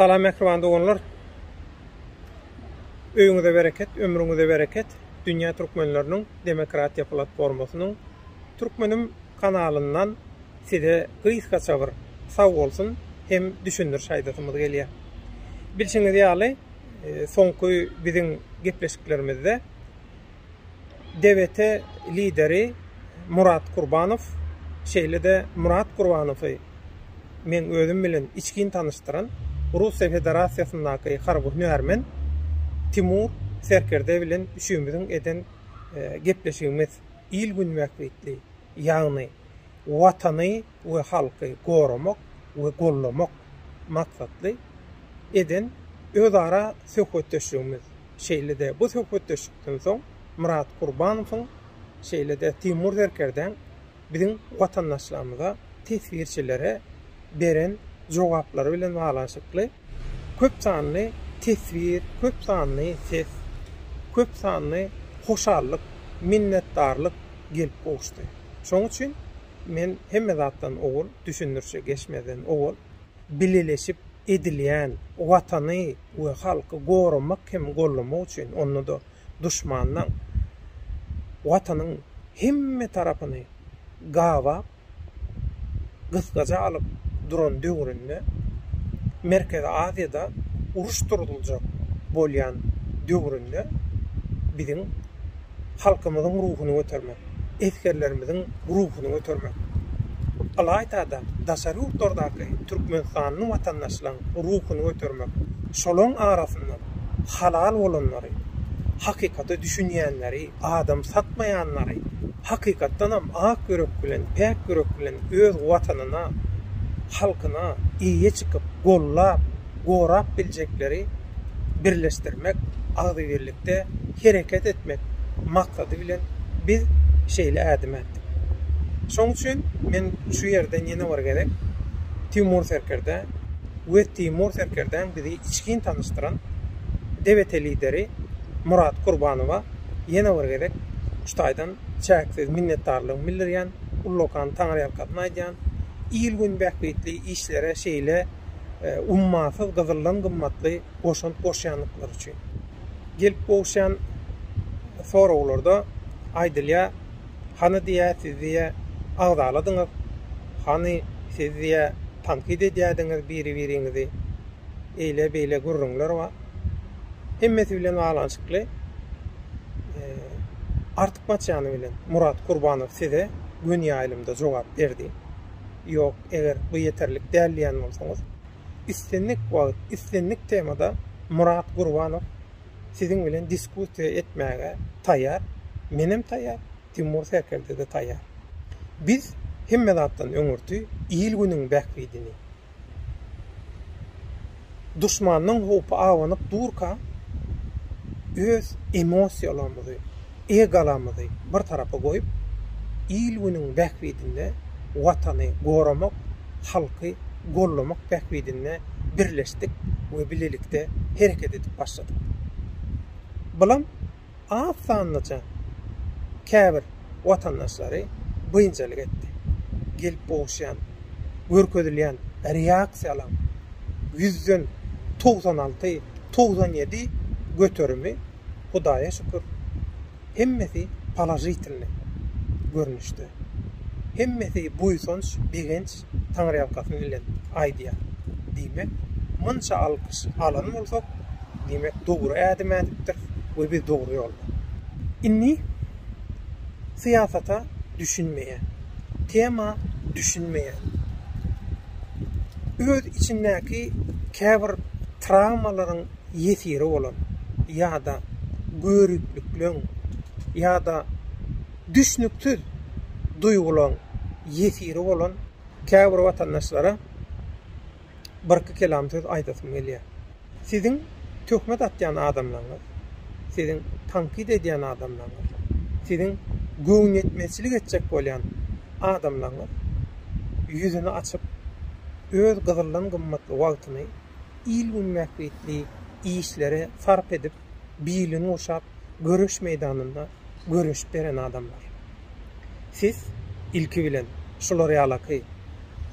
Salam mähriban doganlar. Öýüňize bereket, ömrüňize bereket. Dünýä Türkmenleriniň Demokratiýa Platformasynyň Türkmenim kanalyndan size gysgaça bir sag bolsun hem düşündiriş aýdasymyz gelýär. Bilşiňiz ýaly, soňky biziň gepleşiklerimizde, DWT lideri Murat Kurbanow, şeýle-de Murat Kurbanowy meň özüm bilen içgin tanyşdyran Russiýa Federasiýasyndaky harby hünärmen Timur Serkerde bilen üçümiziň eden gepleşigimiz il-gün bähbitli, ýagny Watany we halky goramak we goldamak maksatly eden özara söhbetdeşligimiz, şeýle-de bu söhbetdeşlikden soň Myrat Kurbanowyň, şeýle-de Timur Serkerdäň biziň watandaşlarymyza, teswirçilere beren jogaplary bilen baglanyşykly köp sanly teswir, köp sanly ses, köp sanly hoşallyk, minnetdarlyk gelip gowuşdy. Şonuň üçin. Men hemme zatdan owal, düşündirişe geçmezden owal, bileleşip edilýän Watany we halky goramak hem gollamak üçin, onda-da duşmandan Watanyň hemme tarapyny gabap, gysgaja alyp duran döwründe, Merkezi Aziýada uruş durzuljak bolýan döwründe biziň halkymyzyň ruhuny götermek, esgerlerimiziň ruhuny götermek, ylaýta-da, daşary ýurtlardaky türkmenistanly watandaşlaryň ruhuny götermek, şolaryň arasyndan halal bolanlary, hakykata düşünýänleri, adam satmaýanlary, hakykatdanam ak ýürek bilen, päk ýürek bilen öz Watanyna, halkyna eýe çykyp, gollap, gorap biljekleri, birleşdirmek, agzybirlikde hereket etmek maksady bilen biz şeýle ädim ätdik. Şoň üçin men şu ýerden ýene bir gezek Timur Serkerdä we Timur Serkerdäň bizi içgin tanyşdyran DBT lideri Murat Kurbanowa ýene bir gezek şu taýdan çäksiz minnetdarlygymy bildirýän, ullakan taňryýalkasyn aýdýan, il-gün bähbitli işlere şeýle ummasyz gyzyldan gymmatly goşant goşýandyklary üçin. Gelip gowuşýan soraglarda aýdylýar, Hany diýýä siz diýýä agzaladyňyz, hany siz diýýä tankyt edýädiňiz biri-biriňizi, eýle beýle gürrüňler bar. Hemmesi bilen baglanyşykly artykmaç ýany bilen Murat Kurbanow size göni ýaýlymda jogap berdi. Ýok, eger bu ýeterlik däl diýýän bolsaňyz, islendik wagt, islendik temada Murat Gurbanow siziň bilen diskussiýa etmäge taýýar. Menem taýýar, Timur Serkerde-de taýýar. Biz hemme zatdan öňürti il-günüň bähbidini, Duşmandan howpy abanyp durka, öz emosiýalarymyzy, egolarymyzy bir tarapa goýup, il-günüň bähbidinde Watany goramak, halky gollamak bähbidinde birleşdik we bilelikde hereket edip başladyk. Bulam az sanlyja käbir watandaşlary biynjalyk etdi. Gelip gowuşýan, görkezilýän reaksiýalaň ýüzden togsan alty, togsan ýedi göterimi, Hudaýa şükür, hemmesi položitilnyý görnüşde. Hemmesi buýsanç, begenç taňryýalkasy bilen aýdýar. Diýmek, munça alkyş alan bolsak, diýmek, dogry ädim ädipdiris we biz dogry ýolda. Indi syýasata düşünmeýän, tema düşünmeýän, öz içindäki käbir trawmalaryň ýesiri bolan ýa-da göriplikleň ýa-da Düşnüksiz duýgularyň ýesiri bolan käbir watandaşlara birki kelam söz aýdasym gelýär. Siziň töhmet atýan adamlaryňyz, siziň tankyt edýän adamlaryňyz, siziň göwnüýetmezçilik etjek bolýan adamlaryňyz ýüzüni açyp, öz gyzyldan gymmatly wagtyny il-gün bähbitli işlere sarp edip, bilini gurşap göreş meýdanynda göreşip beren adamlar. Siz, ilki bilen, şular ýalaky,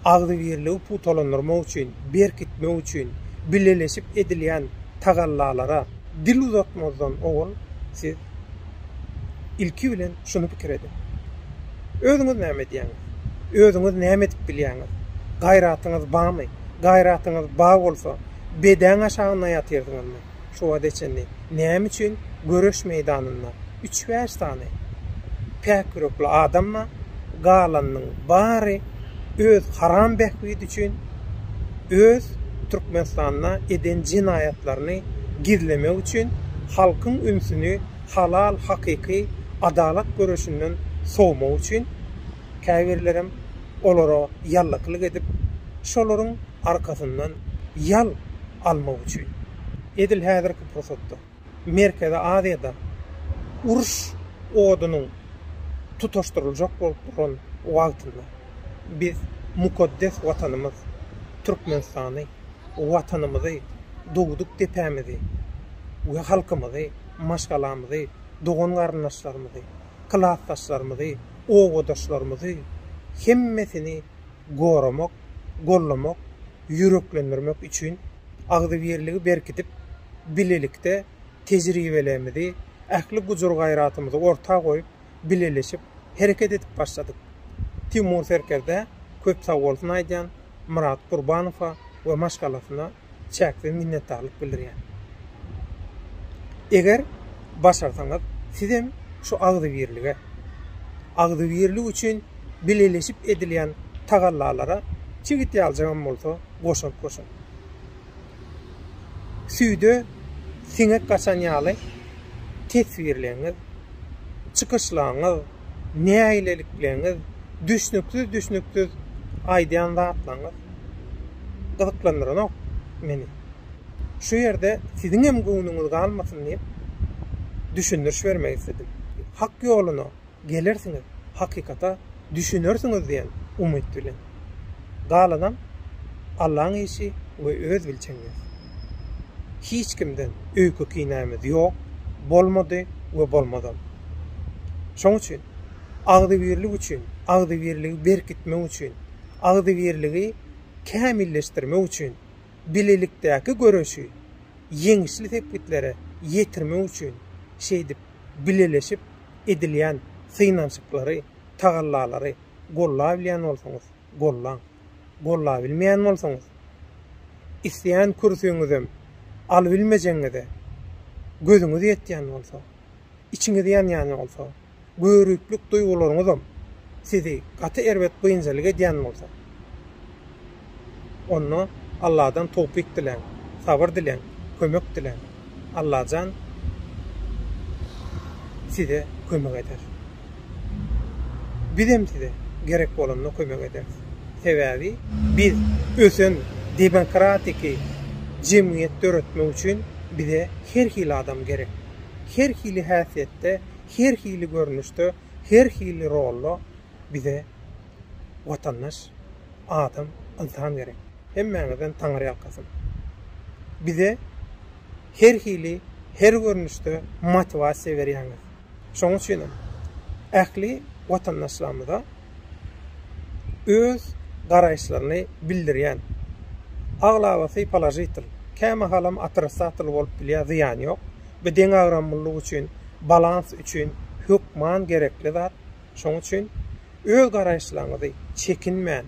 agzybirligi pugtalandyrmak üçin, berkitmek üçin bileleşip edilýän tagallalara dil uzatmazdan owal, siz, ilki bilen, şuny pikir ediň, Özüňiz näme edýäňiz? Özüňiz näme edip bilýäňiz? Gaýratyňyz barmy? Gaýratyňyz bar bolsa, bedäň aşagynda ýatyrdyňyzmy? şu wagta çenli näme üçin göreş meýdanynda üç-bäş sany päk ýürekli adam bar, galanynyň bary öz haram bähbidi üçin öz Türkmenistanda eden jenaýatlaryny gizlemek üçin halkyň ünsüni halal hakyky adalat göreşinden sowmak üçin käbirlerem olara ýallakylyk edip, şolaryň arkasyndan ýal almak üçin, edil häzirki pursatda Merkezi Aziýada uruş odunyň tutaşdyryljak bolup duran wagtynda biz mukaddes Watanymyz Türkmenistany, Watanymyzy, dogduk depämizi we halkymyzy, maşgalamyzy, dogan-garyndaşlarymyzy, klasdaşlarymyzy, obadaşlarymyzy hemmesini goramak, gollamak, ýüreklendirmek üçin agzybirligi berkidip, bilelikde tejribelerimizi, ähli gujur-gaýratymyzy orta goýup, bileleşip hereket edip başladyk. Timur Serkerdä köp sagbolsun aýdýan, Myrat Gurbanowa we maşgalasyna. çäksiz minnetdarlyk bildirýän. Eger başarsaňyz sizem şu agzybirlige, agzybirlik üçin bileleşip edilýän tagallalara çigit ýaljagam bolsa goşant goşuň. Süýde siňek gaçan ýaly teswirleňiz, çykyşlaňyz, nägilelikleňiz, düşnüksiz-düşnüksiz aýdýan zatlaňyz gyzyklandyranok meni. Şu ýerde siziňem göwnüňiz galmasyn diýip, düşündiriş bermek isledim. Hak ýoluna gelersiňiz, hakykata düşünersiňiz diýen umyt bilen. galanam Allaň işi we öz bilçeňiňiz. Hiç kimden öýke kinämiz ýok, bolmady we bolmazam. Şoň üçin agzybirlik üçin, agzybirligi berkitmek üçin, agzybirligi kämilleşdirmek üçin, bilelikdäki göreşi ýeňişli sepgitlere ýetirmek üçin şeýdip bileleşip edilýän synanyşyklary, tagallalary, gollabilýän bolsaňyz, gollaň. Gollabilmeýän bolsaňyz, isleýän kürsüňizem alybilmejegiňize gözüňiz ýetýän bolsa, içiňiz ýanýan bolsa, göriplik duýgularyňyzam sizi gaty erbet biynjalyk edýän bolsa, Onda Alladan towpik diläň, sabyr diläň, kömek diläň. Allajan size kömek eder. Bizem size gerek bolanda kömek ederis. Sebäbi biz ösen debenkratik jemgyýet döretmek üçin bize her hili adam gerek. Her hili häsiýetde, her hili görnüşde, her hili rolda bize watandaş adam, ynsan gerek. Hemmäňizden Taňry ýalkasyn. Bize her hili, her görnüşde motiwasiýa berýäňiz. Şonuň üçin hem ähli watandaşlarymyza öz garaýyşlaryny bildirýän, aglabasy položitl, kämahalam otrissatl bolup bilýär, zyýany ýok. Bu deňagramlylyk üçin, balans üçin hökman gerekli zat. Şonuň üçin öz garaýyşlaryňyzy çekinmän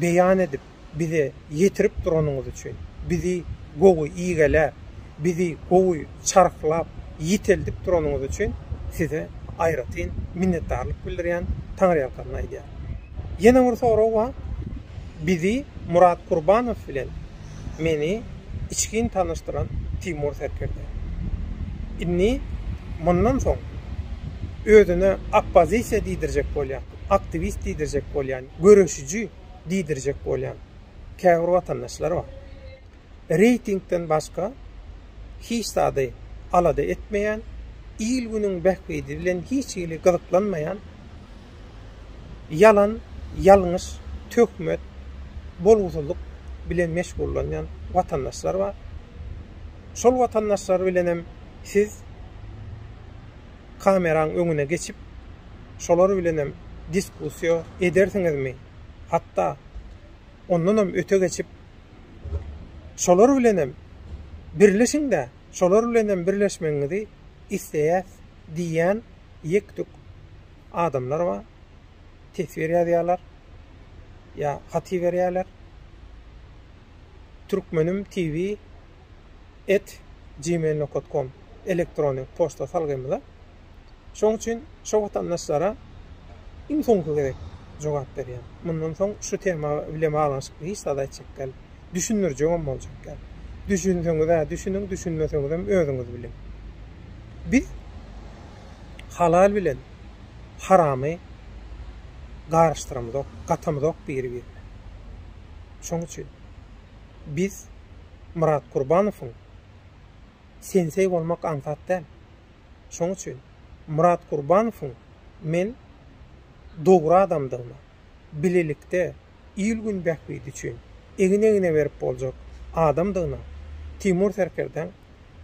beýan edip, bize ýetirip duranyňyz üçin, bizi gowy igeläp, bizi gowy çarhlap, ýiteldip duranyňyz üçin size aýratyn minnetdarlyk bildirýän, taňryýalkanyny aýdýan. Ýene bir sorag bar. Bizi Murat Kurbanow bilen meni içgin tanyşdyran Timur serkerde. Indi mundan soň özüne oppozisiýa diýdirjek bolýan, aktiwist diýdirjek bolýan, göreşiji diýdirjek bolýan käbir watandaşlar bar. Reýtingden başga hiç zady alada etmeýän, il-günüň bähbidi bilen hiç hili gyzyklanmaýan, ýalan, ýalňyş, töhmet, bolgusyzlyk bilen meşgullanýan watandaşlar bar. Şol watandaşlar bilen hem siz kameraň öňüne geçip, şolar bilen hem diskussiýa edersiňizmi? Hatda ondan hem öte geçip, şolar bilen hem birleşiň-de, şolar bilen hem birleşmegiňizi isleýäs diýýän ýek-tük adamlar bar. Teswir ýazýarlar. Ýa hat iberýärler. Türkmenim TV et gmail.com elektron poçta salgymyza. Şoň üçin şu watandaşlara iň soňky gezek jogap berýän. Mundan soň şu tema bilen baglanyşykly hiç zat aýtjak däl. düşündirjegem boljak däl. Düşünseňiz-ä düşüniň, düşünmeseňizem özüňiz biliň. Biz halal bilen haramy garyşdyramyzok, gatamyzok biri-birine. Şoň üçin biz Myrat Gurbanowyň sensei bolmak aňsat däl. Şoň üçin Myrat Gurbanowyň men dogry adamdygyna, bilelikde il-gün bähbidi üçin egin-egne berip boljak adamdygyna Timur serkerdeň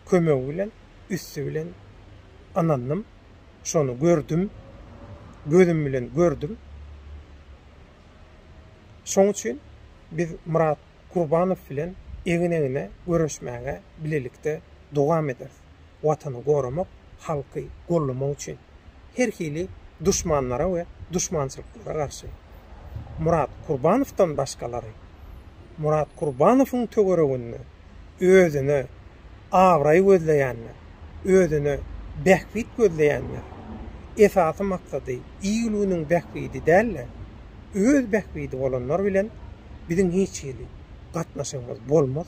kömegi bilen, üsti bilen ynandym. Şony gördüm. Gözüm bilen gördüm. Şoň üçin biz Myrat Kurbanow bilen egin-egne göreşmäge bilelikde dowam ederis. Watany goramak, halky gollamak üçin her hili duşmanlara we duşmançylyklara garşy Murat Kurbanowdan başgalary Murat Kurbanowyň töwereginde özüne abraý gözleýänler, özüne bähbit gözleýänler esasy maksady il-günüň bähbidi däl-de, öz bähbidi bolanlar bilen biziň hiç hili gatnaşygymyz bolmaz,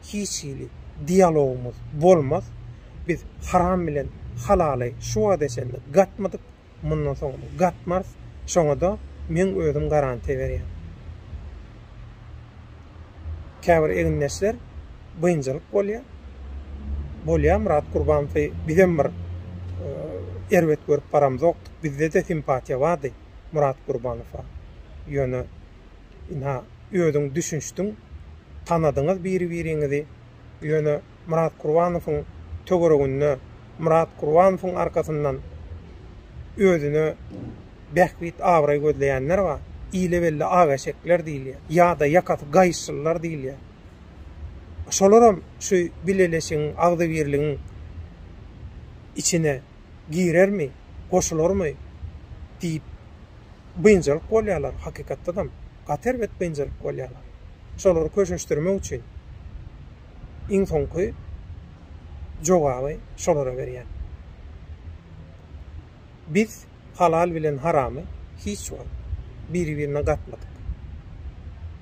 hiç hili dialogymyz bolmaz, biz haram bilen halaly şu wagta çenli gatmadyk, mundan soňam gatmarys, şoňa-da meň özüm garantiýa berýän. Käbir egindeşler biynjalyk bolýar, bolýar Myrat Gurbanowy bizem bir erbet görüp baramzokdyk, bizde-de simpatiýa bardy Myrat Gurbanowa, ýöne, Ynha, özüň düşünişdiň, tanadyňyz biri-biriňizi. Ýöne Myrat Gurbanowyň töwereginde, Myrat Gurbanowyň arkasyndan özüne bähbit-abraý gözleýänler bar. Ile belli ak eşekler diýilýär. Ýa-da ýakasy gaýyşlylar diýilýär. Şolaram şu bileleşigiň, agzybirligiň içine girermi, goşularmy diýip biynjalyk bolýarlar, hakykatdanam, gaty erbet biynjalyk bolýarlar. Şolary köşeşdirmek üçin iň soňky jogaby şolara berýän. Biz halal bilen haramy hiç wagt biri-birine gatmadyk.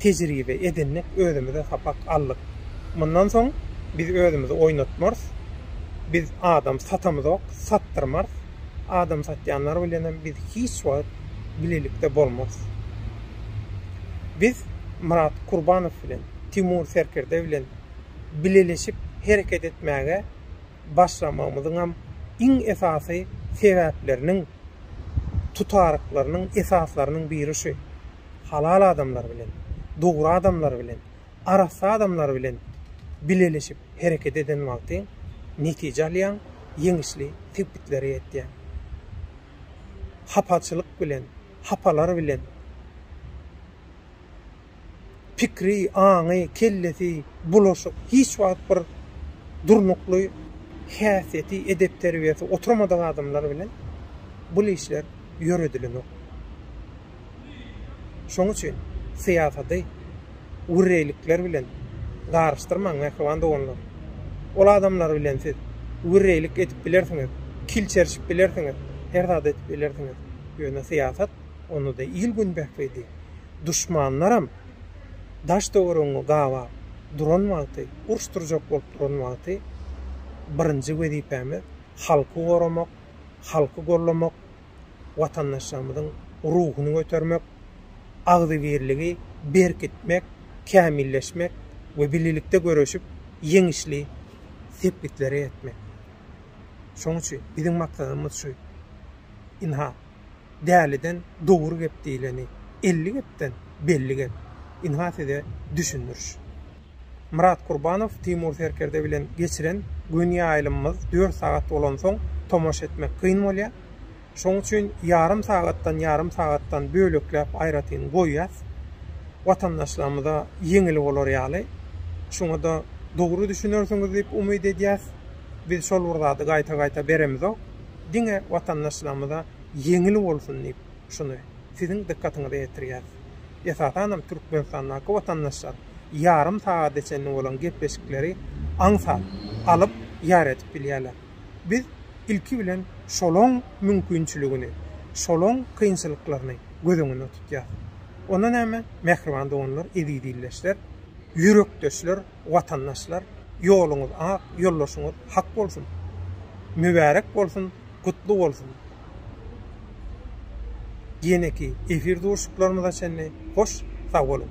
tejribe edindik, özümize sapak aldyk. Mundan soň biz özümizi oýnatmarys. Biz adam satamyzok, satdyrmarys. Adam satýanlar bilenem biz hiç wagt bilelikde bolmarys. Biz Myrat Kurbanow bilen, Timur Serkerde bilen bileleşip hereket etmäge başlamagymyzyňam iň esasy sebäpleriniň, tutaryklarynyň esaslarynyň biri şu. halal adamlar bilen, dogry adamlar bilen, arassa adamlar bilen bileleşip hereket eden wagtyň netije alýaň, ýeňişli sepgitlere ýetýäň. Hapaçylyk bilen, hapalar bilen pikri, aňy, kellesi bulaşyk, hiç wagt bir durnukly häsiýeti, edep-terbiýesi oturmadyk adamlar bilen bul işler ýöredilenok. Şoň üçin syýasaty wirrelikler bilen garyşdyrmaň mähriban doganlar. Ol adamlar bilen siz wirrelik edip bilersiňiz, kil çerşip bilersiňiz, her zat edip bilersiňiz. Ýöne syýasat, onda-da il-gün bähbidi. Duşmanlaram daş-töweregiňi gabap duran wagty, uruş turjak bolup duran wagty birinji wezipämiz halky goramak, halky gollamak, watandaşlarymyzyň ruhuny götermek, agzybirligi berkitmek, kämilleşmek we bilelikde göreşip, ýeňişli sepgitlere ýetmek. Şonuň üçin biziň maksadymyz şu. Ynha, däliden dogry gep diýleni, elli gepden belli gep. Ynha size düşündiriş. Myrat Kurbanow Timur Serkerde bilen geçiren gün ýaýlymymyz dört sagat bolansoň tomaşa etmek kyn bolýar. Şoň üçin ýarym sagatdan ýarym sagatdan bölekläp aýratyn goýýas. Watandaşlarymyza ýeňil bolar ýaly. Şuňada dogry düşünersiňiz diýip umyt edýäs. Biz şol bir zady gaýta-gaýta beremizok. Diňe watandaşlarymyza ýeňil bolsun diýip. şuny Siziň dykgatyňyza ýetirýäris. Esasanam Türkmenistandaky watandaşlar ýarym sagada çenli bolan gepleşikleri aňsat, alyp, ýar edip bilýärler. Biz ilki bilen şolaň mümkinçiligini, şolaň kynçylyklaryny göz öňünde tutýarys. Onda näme, mähriban doganlar, eziz ildeşler, ýürekdeşler! watandaşlar ýoluňyz ak ýoldaşyňyz hak bolsun mübärek bolsun gutly bolsun ýeneki efir duşuklarymyza çenli hoş sag boluň.